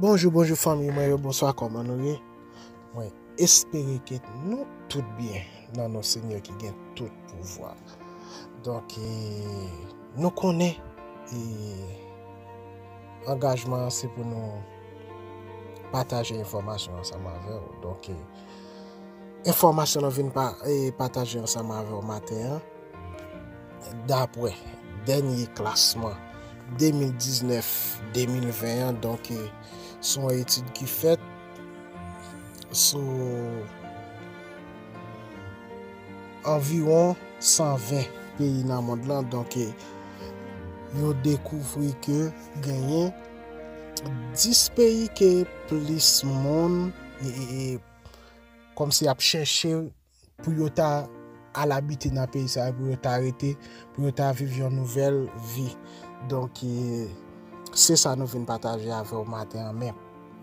Bonjou bonjou fanmiy mwen yo bonswa kòman nou ye mwen espere ke nou tout byen nan non senyè ki gen tout pouvwa donk e nou konnen e angajman se pou nou pataje enfòmasyon ansanm avèw donk e enfòmasyon nou vin pa e pataje ansanm avèw maten an Dapwè dènye klasman 2019, 2020 an, donk se yon etid ki fèt sou anviwon 120 peyi nan mond lan, donk yo dekouvri ke genyen 10 peyi ke plis moun, kòmsi ap chèche pou yo ta al abite nan peyi sa yo, pou yo ta rete, pou yo ta viv yon nouvèl vi. Donk, se sa nou vin pataje avè w maten an. Men,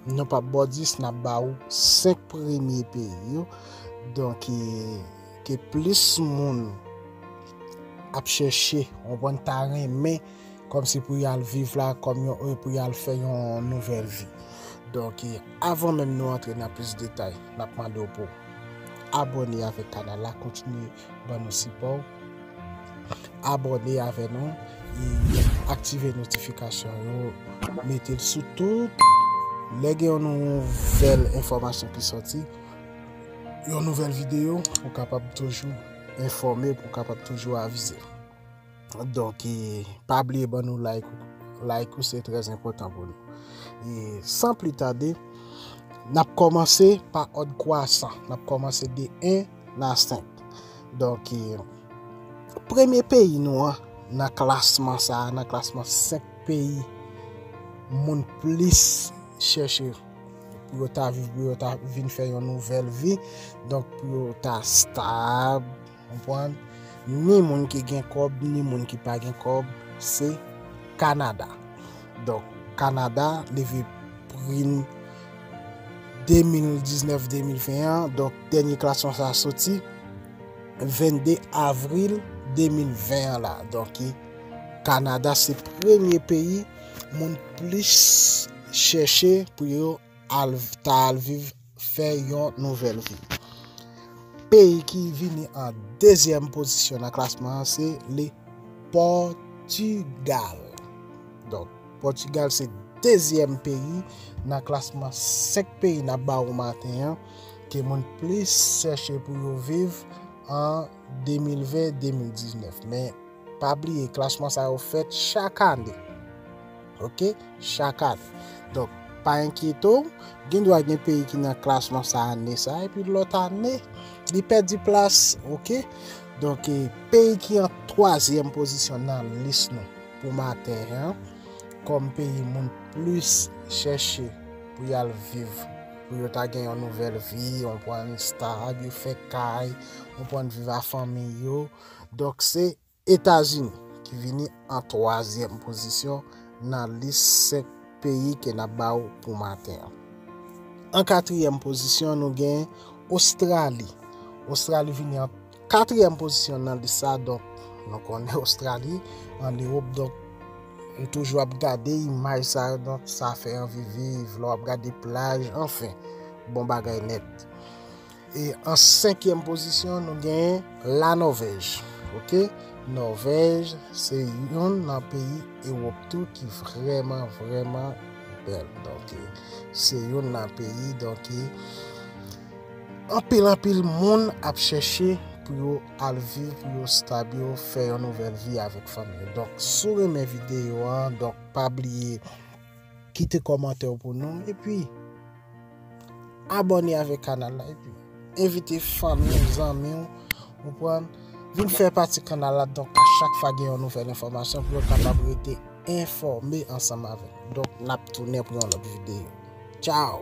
nou pap ba w 10, n ap ba ou 5 premye peyi yo. Donk, ke plis moun ap chèche, ou konprann, ta renmen kòm si pou y al viv la, kòm yon, pou y al fè yon nouvèl vi. Donk, avan menm nou antre nan plis detay, n ap mande w pou. Abòne avèk kanal la kontinye ban nou sipò w. Abòne avè nou e aktive notifikasyon yo mete l sou tout. Lè gen yon nouvèl enfòmasyon ki soti, yon nouvèl videyo, ou kapab toujou enfòme, ou kapab toujou avize. Donk e pa bliye ban nou like ou. Like ou se trèz enpotan pou nou. E san pli tade, nap komanse pa od kwasan. Nap komanse de 1 na 5. Donk e premye peyi nou an nan klasman sa, nan klasman 5 peyi moun plis chèche pou yo ta vin fè yon nouvel vi. Donk pou yo ta stab. Konprann? Ni moun ki gen kòb, ni moun ki pa gen kòb, se Kanada. Donk, Kanada, leve prim 2019-2020 an, donk dènye klasman sa a soti 22 avril 2020 an la. Donk, Kanada se premye peyi moun plis chèche pou yo ta al viv fè yon nouvèl vi. Peyi ki vini an dezyèm pozisyon nan klasman an se le Pòtigal. Donk, Pòtigal se dezyèm peyi nan klasman 5 peyi nan ba ou maten an ke moun plis chèche pou yo viv an 2020-2019. Men, pa bliye, klasman sa yo fèt chak ane. ok chak ane donk pa enkyete w gen dwa gen peyi ki nan klasman sa ane sa epi lòt ane li pèdi plas ok donk e peyi ki an twazyèm pozisyon nan lis nou pou matè an kòm peyi moun plis chèche pou y al viv pou yo ta gen yon nouvèl vi yon pwen stab yo fè kay yon pwen viv a fanmi yo donk se Etazini, ki vini an twazyèm pozisyon nan lis 5 peyi ke nap ba ou pou maten an. An katriyèm pozisyon nou gen Ostrali. Ostrali vini an katriyèm pozisyon nan lis sa, donk nou konnen Ostrali an Ewop, donk ou toujou ap gade imaj sa yo, donk sa fè anvi viv, lè wap gade plaj, anfen, bon bagay nèt. E an senkyèm pozisyon nou gen la Nòvèj. Ok Nòvèj se youn nan peyi Ewòp tou ki vrèman vrèman bèl. Donke se youn nan peyi donke anpil anpil moun ap chèche pou yo al viv pou yo stab yo fè yon nouvèl vi avèk fanmi yo. Donk si w renmen videyo an donk pa bliye. Kite kòmantè w pou nou epi abòne avèk kanal la epi envite fanmi w, zanmi w, ou pran vin fè pati kanal la donk a chak fwa gen yon nouvèl enfòmasyon pou yo kapab rete enfòme ansanm avèk. Donk nap tounen pou yon lòt videyo. Tchao!